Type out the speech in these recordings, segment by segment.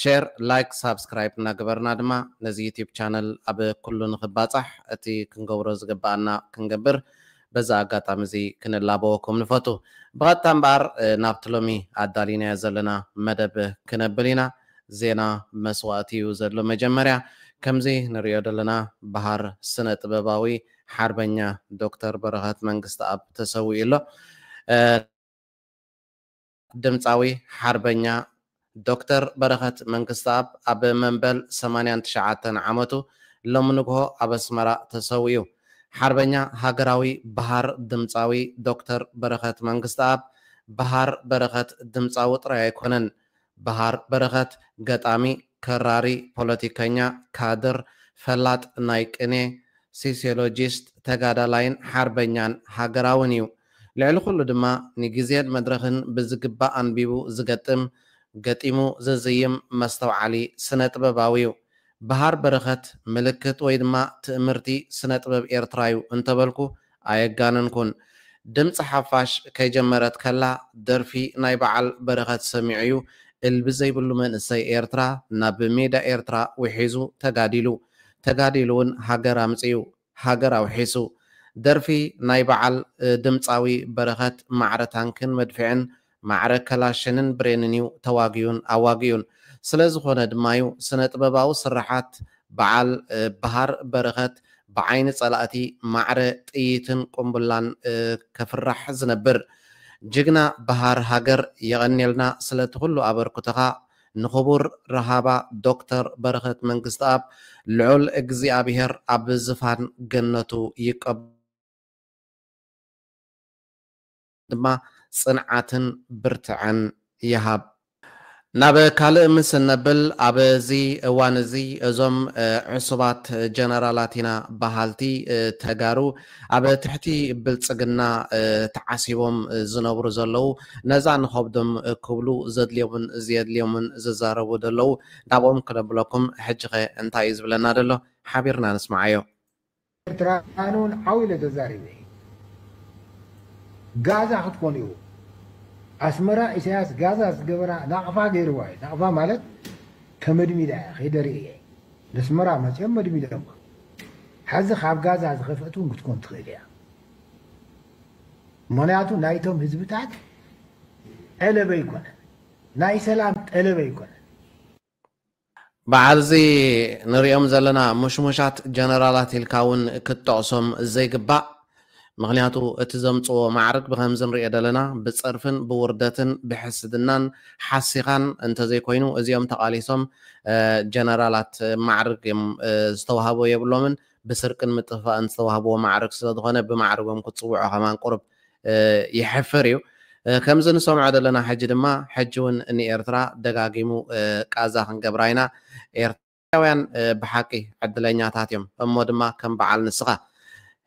ሼር ላይክ ሳብስክራይብ እናገበርና ድማ ነዚ ዩቱብ ቻነል ኣብ ኩሉ ንኽባፃሕ እቲ ክንገብሮ ዝግበኣና ክንገብር በዚ ኣጋጣሚ እዚ ክንላበወኩም ንፈቱ። ብቐጥታ እምበኣር ናብቲ ሎሚ ኣዳሊናዮ ዘለና መደብ ክነብል ኢና። ዜና መስዋእቲ እዩ ዘሎ መጀመርያ። ከምዚ ንርእዮ ዘለና በሃር ስነ ጥበባዊ ሓርበኛ ዶክተር በረኸት መንግስተኣብ ተሰዊኡ ኣሎ። ድምጻዊ ሓርበኛ ዶክተር በረኸት መንግስተኣብ ኣብ መንበል ሰማንያን ትሽዓተን ዓመቱ ሎሚ ንግሆ ኣብ ኣስመራ ተሰዊኡ። ሓርበኛ ሃገራዊ በሃር ድምጻዊ ዶክተር በረኸት መንግስተኣብ፣ በሃር በረኸት ድምጻዊ ጥራይ ኣይኮነን። በሃር በረኸት ገጣሚ፣ ከራሪ፣ ፖለቲከኛ፣ ካድር፣ ፈላጥ ናይ ቅኔ፣ ሲሲዮሎጂስት፣ ተጋዳላይን ሓርበኛን ሃገራውን እዩ። ልዕሊ ኩሉ ድማ ንግዜን መድረኽን ብዝግባእ ኣንቢቡ ዝገጥም፣ ገጢሙ ዝዝይም መስተውዓሊ ስነ ጥበባዊ'ዩ። በሃር በረኸት ምልክት ወይ ድማ ትእምርቲ ስነ ጥበብ ኤርትራ'ዩ እንተበልኩ ኣየጋነንኩን። ድምጺ ሓፋሽ ከይጀመረት ከላ ደርፊ ናይ በዓል በረኸት ሰሚዑ'ዩ እልቢ ዘይብሉ መንእሰይ ኤርትራ ናብ ሜዳ ኤርትራ ውሒዙ ተጋዲሉ። ተጋዲሉ'ውን ሃገር ኣምጺኡ። ሃገር ኣውሒሱ። ደርፊ ናይ በዓል ድምጻዊ በረኸት ማዕረ ታንክን መድፍዕን ማዕረ ከላሽንን ብሬንን'ዩ ተዋጊኡን ኣዋጊኡን። ስለ ዝኾነ ድማ'ዩ ስነ-ጥበባዊ ስርሓት በዓል በሃር በረኸት ብዓይኒ ጸላእቲ ማዕረ ጥይትን ቁምብላን ከፍራሕ ዝነብር። ጅግና በሃር ሃገር የቐንየልና ስለቲ ኩሉ ኣበርኩቶኻ ንክቡር ራሃባ ዶክተር በረኸት መንግስትኣብ ልዑል እግዚኣብሄር ኣብ ዝፋን ገነቱ ይቀበሎ ድማ ጽንዓትን ብርትዐን ይሃብ። ናብ ካልእ ምስ እነብል ኣብዚ እዋን እዚ እዞም ዕሱባት ጀነራላት ኢና በሃልቲ ተጋሩ ኣብ ትሕቲ ብልጽግና ተዓሲቦም ዝነብሩ ዘለዉ ነዛ ንኸብዶም ክብሉ ዘድልዮምን ዘየድልዮምን ዝዛረቡ ደለዉ ናብኦም ክነብለኩም ሕጂኸ እንታይ እዩ ዝብለና ደሎ ሓቢርና ንስምዓዮ። ኤርትራ ኣነ ውን ዓው ኢለ ተዛሪበ ኢየ ጋዛ ክትኮን ኢኩም ኣስመራ ኢሰያስ ጋዛ ዝገበራ ናቅፋ ገርዋ ኢዩ ናቅፋ ማለት ተመድሚዳ ኢያ ከይደ ርእየ። ነስመራ መጺኦም መድሚዶማ ሐዚ ካብ ጋዛ ዝኸፍእት እውን ክትኮን ትኽእል እያ ምክንያቱ ናይቶም ህዝብታት ጠለበ ኣይኮነ ናይ ሰላም ጠለበ ኣይኮነ በዓል እዚ ንሪኦም ዘለና ሙሽሙሻት ጀነራላት ኢልካ እውን ክትጠቕሶም ዘይግባእ ምኽንያቱ እቲ ዘምጽዎ ማዕርግ ብኸምዚ ንርእዮ ደለና ብጸርፍን ብውርደትን ብሕስድናን ሓሲኻን እንተዘይኮይኑ እዚኦም ተቓሊሶም ጀነራላት ማዕርግ እዮም ዝተዋህቦ የብሎምን ብስርቅን ምጥፍፋእን ዝተዋህብዎ ማዕርግ ስለዝኾነ ብማዕርጎም ክትጽውዖ ከማን ቁሩብ የሕፍር እዩ ከምዚ ንሰምዖ ደለና ሕጂ ድማ ሕጂ ውን ንኤርትራ ደጋጊሙ ቃዛ ክንገብራ ኢና ኤርትራ ኤርትራውያን ብሓቂ ዕድለኛታት እዮም እሞ ድማ ከም በዓል ንስኻ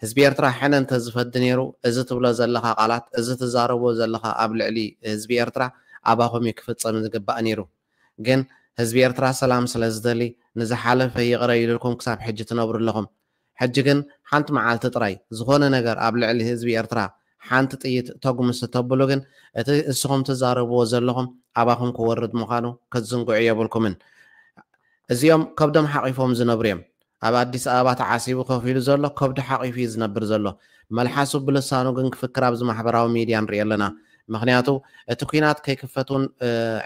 ህዝቢ ኤርትራ ሕነ እንተ ዝፈዲ ኔሩ እዚ ትብሎ ዘለኻ ቃላት እዚ ትዛረቦ ዘለኻ ኣብ ልዕሊ ህዝቢ ኤርትራ ኣባኹም እዩ ክፍጸም ዝግባእ ኔሩ ግን ህዝቢ ኤርትራ ሰላም ስለ ዝደሊ ንዝሓለፈ ይቕረ ኢሉልኩም ክሳብ ሕጂ ትነብሩ ኣለኹም ሕጂ ግን ሓንቲ መዓልቲ ጥራይ ዝኾነ ነገር ኣብ ልዕሊ ህዝቢ ኤርትራ ሓንቲ ጥይት ተጉምስ ተብሉ ግን እቲ እስኹም ትዛረብዎ ዘለኹም ኣባኹም ክወርድ ምዃኑ ክትዝንግዑ የብልኩምን። እዚኦም ከብዶም ሓቒፎም ዝነብሩ እዮም። ኣብ ኣዲስ ኣበባ ተዓሲቡ ኮፍ ኢሉ ዘሎ ከብዱ ሓቒፉ እዩ ዝነብር ዘሎ። መልሓሱ ብልሳኑ ግን ክፍክር ኣብዚ ማሕበራዊ ሚድያ ንሪኦ ኣለና። ምኽንያቱ እቲ ኲናት ከይክፈት እውን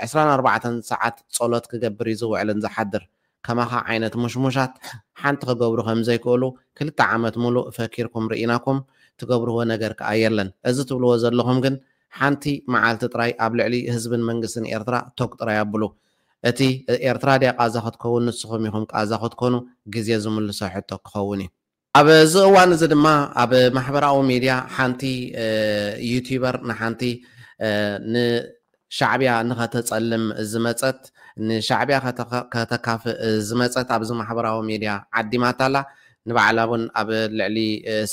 ዕስራን ኣርባዕተን ሰዓት ጸሎት ክገብር እዩ ዝውዕልን ዝሓድር። ከማኻ ዓይነት ሙሽሙሻት ሓንቲ ክገብሩ ከምዘይክእሉ ክልተ ዓመት ሙሉእ ፈኪርኩም ርኢናኩም ትገብርዎ ነገር ክኣ የለን እዚ ትብልዎ ዘለኹም ግን ሓንቲ ምዓልቲ ጥራይ ኣብ ልዕሊ ህዝብን መንግስትን ኤርትራ ቶግ ጥራይ ኣብሉ እቲ ኤርትራ ድያ ቃዛ ክትከውን ንስኹም ኢኹም ቃዛ ክትኮኑ ግዜ ዝምልሶ ሕቶ ክኸውን እዩ። ኣብዚ እዋን እዚ ድማ ኣብ ማሕበራዊ ሚድያ ሓንቲ ዩቱበር ንሓንቲ ንሻዕብያ ንኸተፀልም ዝመፀት ንሻዕብያ ከተካፍእ ዝመፀት ኣብዚ ማሕበራዊ ሚድያ ዓዲማታ ኣላ። ንባዕላ እውን ኣብ ልዕሊ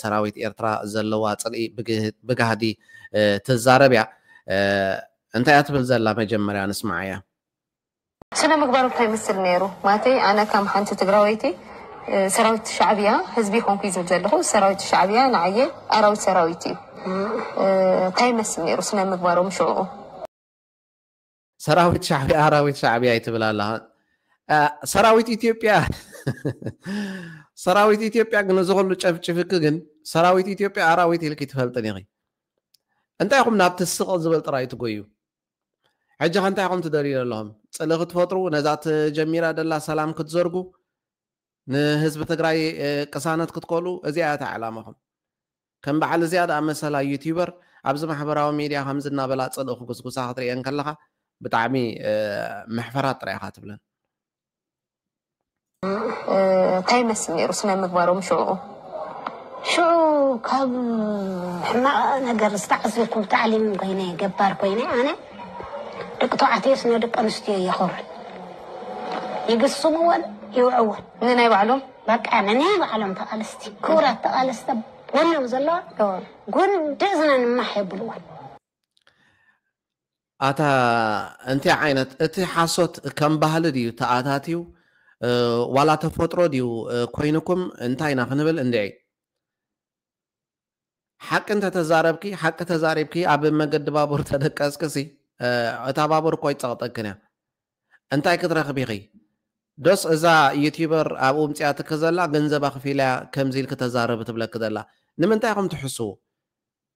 ሰራዊት ኤርትራ ዘለዋ ፅልኢ ብጋህዲ ትዛረብ እያ። እንታይ እያ ትብል ዘላ መጀመርያ ንስምዓያ። ስነ ምግባሩ ታይ ይመስል ነይሩ ማተይ ኣነ ከም ሓንቲ ትግራወይቲ ሰራዊት ሻዕብያ ህዝቢ ኮንኩይ ዝብል ዘለኩ ሰራዊት ሻዕብያ ንዓየ ኣራዊት ሰራዊት እዩ ታይ ይመስል ነይሩ ስነ ምግባሮም ሽዑኡ። ሰራዊት ሻዕብያ ኣራዊት ሻዕብያ እዩ ትብል ኣለኻ ሰራዊት ኢትዮጵያ ሰራዊት ኢትዮጵያ ግን እዚ ኩሉ ጨፍጭፍኪ ግን ሰራዊት ኢትዮጵያ ኣራዊት ኢልኪ ትፈልጥን ኢኺ እንታይ ኢኹም ናብቲ ስቕ ዝበል ጥራይ ትጎዩ ሕጂ ከ እንታይ ኢኹም ትደልዩ ዘለኹም ጽልኢ ክትፈጥሩ ነዛ ተጀሚራ ደላ ሰላም ክትዘርጉ ንህዝቢ ትግራይ ቅሳነት ክትከሉ እዚኣ እያ እታ ዕላማኹም ከም በዓል እዚኣ ደኣ መሰላ ዩቲበር ኣብዚ ማሕበራዊ ሚድያ ከምዚ እናበላ ጽልኢ ክጉስጉሳ ክትርእየን ከለኻ ብጣዕሚ መሕፈራት ጥራይ ኢኻ ትብለን እንታይ ይመስል ነይሩ ስነ ምግባሮም ሽዑ? ሽዑ ካብ ሕማቕ ነገር ዝተዓዘብኩም ታዕሊም ኮይነ ገባር ኮይነ ኣነ ደቂ ተባዕትዮ ስነ ደቂ ኣንስትዮ የኸብሩን ይግስምዎን ይውዕዎን ንናይ ባዕሎም በቃ ንናይ ባዕሎም ተቓለስቲ ክቡራት ተቓለስቲ ጎኖም ዘለዋ ጉንዲ እዝነን ማሕ የብልዎን ኣታ እንታይ ዓይነት እቲ ሓሶት ከም ባህሊ ድዩ ተኣታትዩ ዋላ ተፈጥሮ ድዩ ኮይኑኩም እንታይ ኢና ክንብል እንድዒ ሓቂ እንተተዛረብኪ ሓቂ ተዛሪብኪ ኣብ መገዲ ባቡር ተደቀስኪ ሲ እታ ባቡር እኮ ኣይትጸቕጠክን እያ እንታይ ክትረኽቢ ኢኺ ዶስ እዛ ዩቲበር ኣብኡ ምጽያትኪ ዘላ ገንዘብ ኣኽፊላ ከምዚ ኢልኪ ተዛረቢ ትብለኪ ዘላ ንምንታይ ኢኹም ትሕስዉ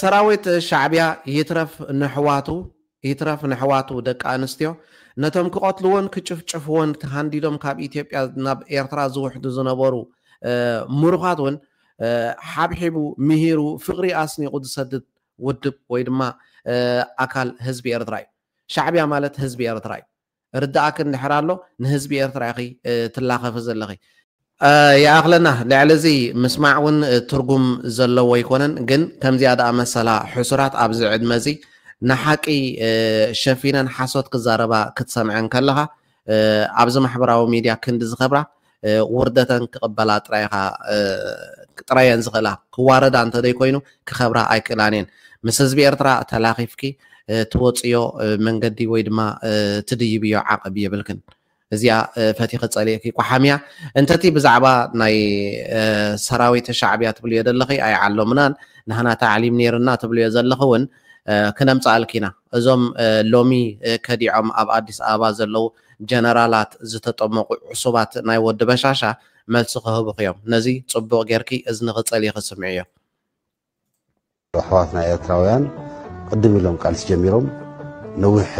ሰራዊት ሻዕቢያ ይትረፍ ነሕዋቱ ይትረፍ ነሕዋቱ ደቂ ኣንስትዮ ነቶም ክቐትልዎን ክጭፍጭፍዎን ተሃንዲዶም ካብ ኢትዮጵያ ናብ ኤርትራ ዝውሕዱ ዝነበሩ ምሩኻት እውን ሓብሒቡ ምሂሩ ፍቕሪ ኣስኒቑ ዝሰድድ ውድብ ወይ ድማ ኣካል ህዝቢ ኤርትራ እዩ። ሻዕቢያ ማለት ህዝቢ ኤርትራ እዩ። ርድኣኪ እንድሕር ኣሎ ንህዝቢ ኤርትራ ኢኺ ትላኸፊ ዘለኺ። ይኣኽለና ልዕሊ እዚ ምስማዕ ውን ትርጉም ዘለዎ ኣይኮነን ግን ከምዚኣ ድኣ መሰላ ሕሱራት ኣብዚ ዕድመ እዚ ንሓቂ ሸፊነን ሓሶት ክዛረባ ክትሰምዐን ከለኻ ኣብዚ ማሕበራዊ ሚድያ ክንዲ ዝኸብራ ውርደተን ክቕበላ ጥራይ ኢኻ ጥራይ እየን ዝኽእላ ክዋረዳ እንተዘይኮይኑ ክኸብራ ኣይክእላን እየን ምስ ህዝቢ ኤርትራ ተላኺፍኪ ትወፅዮ መንገዲ ወይ ድማ ትድይብዮ ዓቕብ የብልክን እዚኣ ፈቲኺ ፀሊእኪ ቋሓምያ እንተቲ ብዛዕባ ናይ ሰራዊት ሻዕብያ ትብልዮ ዘለኺ ኣይዓሎምናን ንህና ታዕሊም ነይርና ትብልዮ ዘለኺ እውን ክነምፅኣልኪ ኢና እዞም ሎሚ ከዲዖም ኣብ ኣዲስ ኣበባ ዘለው ጀነራላት ዝተጠመቑ ዕሱባት ናይ ወዲ በሻሻ መልሲ ክህቡኺ እዮም ነዚ ጽቡቕ ጌርኪ እዝንኺ ጸሊኺ ስምዕዮ። ኣሕዋትና ኤርትራውያን ቅድም ኢሎም ቃልሲ ጀሚሮም ነዊሕ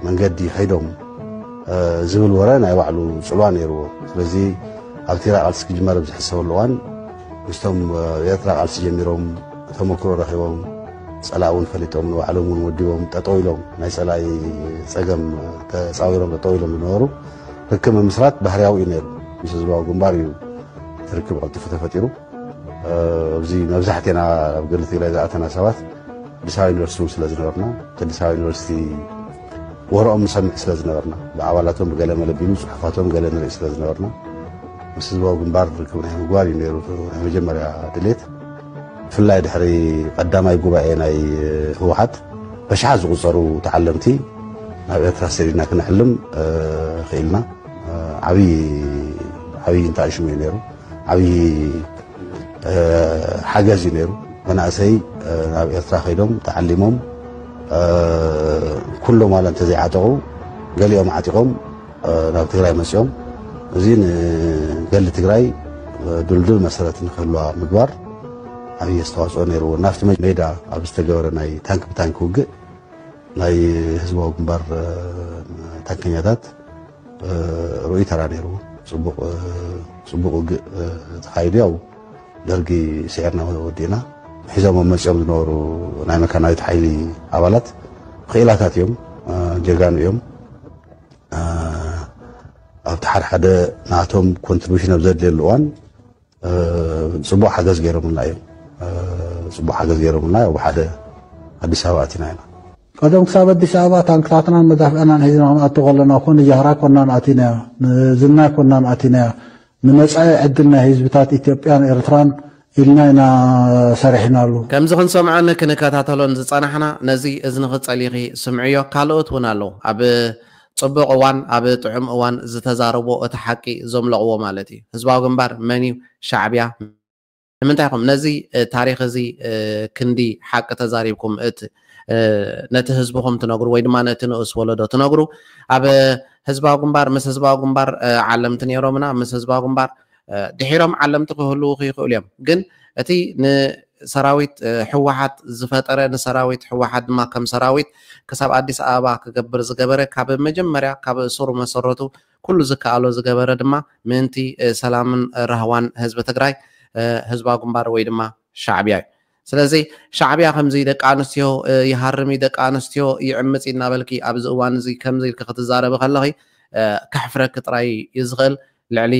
መንገዲ ከይዶም ዝብል ወረ ናይ ባዕሉ ጽልዋ ነይርዎ። ስለዚ ኣብቲራ ቃልሲ ክጅመር ኣብ ዝሕሰበሉ እዋን ምስቶም ኤርትራ ቃልሲ ጀሚሮም ተመክሮ ረኺቦም ጸላእ እውን ፈሊጦም ንባዕሎም እውን ወዲቦም ጠጠው ኢሎም ናይ ጸላኢ ጸገም ተጻዊሮም ጠጠው ኢሎም ዝነበሩ ርክብ ምምስራት ባህርያዊ እዩ ነይሩ ምስ ህዝባዊ ግንባር እዩ ርክብ ቀልጢፉ ተፈጢሩ ኣብዚ መብዛሕትና ኣብ ገድሊ ትግራይ ዝኣተና ሰባት ኣዲስ ኣበባ ዩኒቨርሲቲ እውን ስለ ዝነበርና ኣዲስ ኣበባ ዩኒቨርሲቲ ወረኦም ንሰምዕ ስለ ዝነበርና፣ ብኣባላቶም ብገለ መለብቢ፣ ብጽሑፋቶም ገለ ንርኢ ስለ ዝነበርና፣ ምስ ህዝባዊ ግንባር ርክብ ናይ ምግባር እዩ ነይሩ እቲ ናይ መጀመርያ ድሌት። ብፍላይ ድሕሪ ቀዳማይ ጉባኤ ናይ ህወሓት በሽሓት ዝቑጸሩ ተዓለምቲ ናብ ኤርትራ ሰዲድና ክነዕልም ክኢልና። ዓብዪ ዓብዪ እንታኣሽሙ እዩ ነይሩ ዓብዪ ሓገዝ እዩ ነይሩ። መናእሰይ ናብ ኤርትራ ከይዶም ተዓሊሞም ኩሎም ዋላ እንተዘይዓጠቑ ገሊኦም ዓጢቖም ናብ ትግራይ መፅኦም እዚ ንገሊ ትግራይ ድልዱል መሰረት ንክህልዋ ምግባር ዓብዪ ኣስተዋፅኦ ነይርዎ። ናብቲ ሜዳ ኣብ ዝተገበረ ናይ ታንክ ብታንክ ውግእ ናይ ህዝባዊ ግንባር ታንከኛታት ርኡይ ተራ ነይሩ። ፅቡቕ ውግእ ተኻይዱ ያው ደርጊ ስዒርና ወዲእና ሒዞሞ መፂኦም ዝነበሩ ናይ መካናዊት ሓይሊ ኣባላት ክኢላታት እዮም፣ ጀጋኑ እዮም። ኣብቲ ሓደሓደ ናቶም ኮንትሪቢሽን ኣብ ዘድልየሉ እዋን ፅቡቅ ሓገዝ ገይሮምልና እዮም። ፅቡቅ ሓገዝ ገይሮምልና ያው ብሓደ ኣዲስ ኣበባ ኣቲና ኢና። ቀደም ክሳብ ኣዲስ ኣበባ ታንክታትናን መዳፍዕናን ሒዝና ክንኣቱ ከለና እኮ ንጃህራ ኮናን ኣቲናያ ንዝና ኮናን ኣቲናያ ንመጻኢ ዕድል ናይ ህዝብታት ኢትዮጵያን ኤርትራን ኢልና ኢና ሰሪሕናሉ። ከምዚ ክንሰምዖን ክንከታተሎን ዝጸናሕና ነዚ እዝንኺ ጸሊኺ ስምዕዮ ካልኦት ውን ኣለዉ ኣብ ጽቡቕ እዋን ኣብ ጥዑም እዋን ዝተዛረብዎ እቲ ሓቂ ዘምለቕዎ ማለት እዩ። ህዝባዊ ግንባር መን እዩ ሻዕብያ ንምንታይ ኢኹም ነዚ ታሪኽ እዚ ክንዲ ሓቂ ተዛሪብኩም እት ነቲ ህዝብኹም ትነግሩ ወይ ድማ ነቲ ንኡስ ወለዶ ትነግሩ ኣብ ህዝባዊ ግንባር ምስ ህዝባዊ ግንባር ዓለምቲ ነይሮምና ምስ ህዝባዊ ግንባር ድሒሮም ዓለምቲ ክህልዉ ክይኽእሉ እዮም ግን እቲ ሰራዊት ህወሓት ዝፈጠረ ንሰራዊት ህወሓት ድማ ከም ሰራዊት ክሳብ ኣዲስ ኣበባ ክገብር ዝገበረ ካብ መጀመርያ ካብ ሱር መሰረቱ ኩሉ ዝከኣሎ ዝገበረ ድማ ምእንቲ ሰላምን ራህዋን ህዝቢ ትግራይ ህዝባዊ ግንባር ወይ ድማ ሻዕብያ እዩ። ስለዚ ሻዕብያ ከምዚ ደቂ ኣንስትዮ ይሃርም እዩ፣ ደቂ ኣንስትዮ ይዕምፅ እዩ እናበልኪ ኣብዚ እዋን እዚ ከምዚ ኢልኪ ክትዛረቢ ከለኺ ከሕፍረኪ ጥራይ እዩ ዝኽእል። ልዕሊ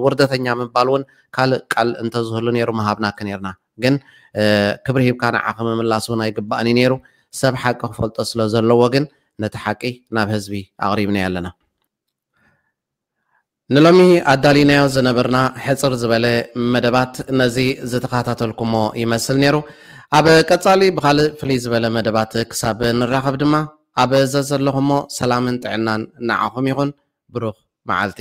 ውርደተኛ ምባል እውን ካልእ ቃል እንተዝህሉ ነይሩ ምሃብናኪ ነይርና። ግን ክብሪ ሂብካ ንዓኺ ምምላስ ውን ኣይግባእን እዩ ኔሩ ሰብ ሓቂ ክፈልጦ ስለ ዘለዎ ግን ነቲ ሓቂ ናብ ህዝቢ ኣቕሪብናዮ ኣለና። ንሎሚ ኣዳሊናዮ ዝነበርና ሕጽር ዝበለ መደባት ነዚ ዝተኻታተልኩሞ ይመስል ኔሩ። ኣብ ቀጻሊ ብኻልእ ፍልይ ዝበለ መደባት ክሳብ ንራኸብ ድማ ኣብ ዘዘለኹሞ ሰላምን ጥዕናን ንዓኹም ይኹን። ብሩኽ መዓልቲ።